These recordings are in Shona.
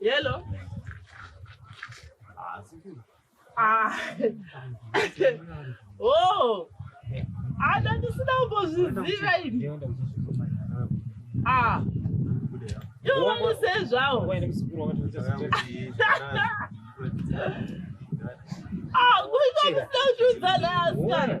Hello. Ah. oh. Ana ndisina kumbozviziva ini. Ah. Ivo vanosezvawo. Ah, kuita kusina kushudza nayo asikana.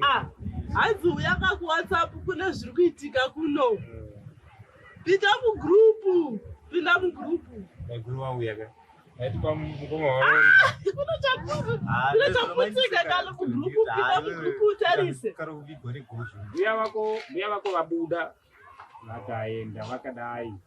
ah hanzi uya ka kuwhatsapp kune zviri kuitika kuno pinda mugrupu pinda mugrupu maiguru vauya ka aitipa mukoma wavakunotaputika kalo kugrupu pinda mugrupu utarise mbuya vako vabuda vakaenda vakadai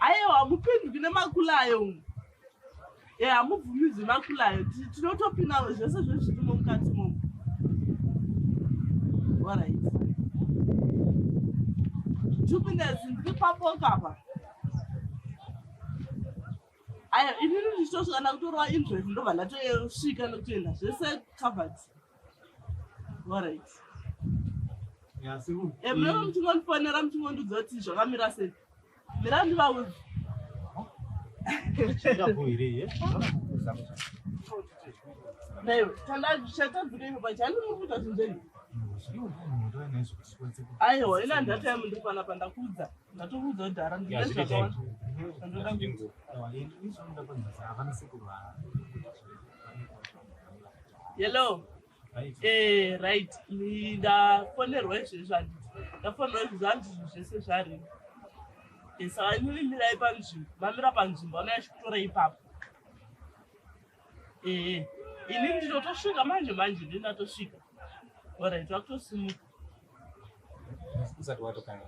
Ayewa hamupinduki nemakulayo umu. E hamubvumidzwi makulayo. Tinotopinda zvese zvezvirimo mukati momu. All right. Two minutes, ndiri papoka apa. aya inini ndichitosvika ndakutorova interest ndobva ndatosvika nekutoenda zvese covered orit emunenge eh, muchingondifonera muchingondiudza kuti zvakamira sei mira ndivaudzi naiwe chandazvichatadzika ipo pachani mukuita zvinzei aiwa ina ndataimundiri panapa ndakuudza Ndatokuudza kuti hara ndine zvakawanda zvandoda kuita. Hello. Eh, right. Ni- Ndafonerwa izvezvi handiti. Ndafonerwa izvezvi handiti zvinhu zvese zvarimo. Eh, saka imimi mirai panzvimbo. Mamira panzvimbo anouya achikutora ipapo. Eh, eh. Ini ndinotosvika manje manje ndinatosvika. Alright, vakutosimuka. usati watokana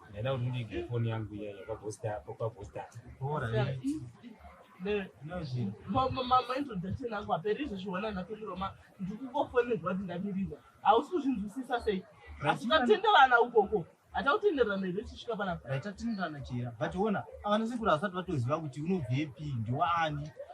ndaida kuti ndiige foni yangu iya yepabhositapopabhositapamamaintroduction angu aperi izvezviona ndatoriroma ndikukofonerwa kuti ndamirirwa hausi kuzvinzwisisa sei asi tatenderana ukoko atautenderana here tichisvika panapa tatenderana chera but ona avana sekuru havasati vatoziva kuti unobvepi ndiwaani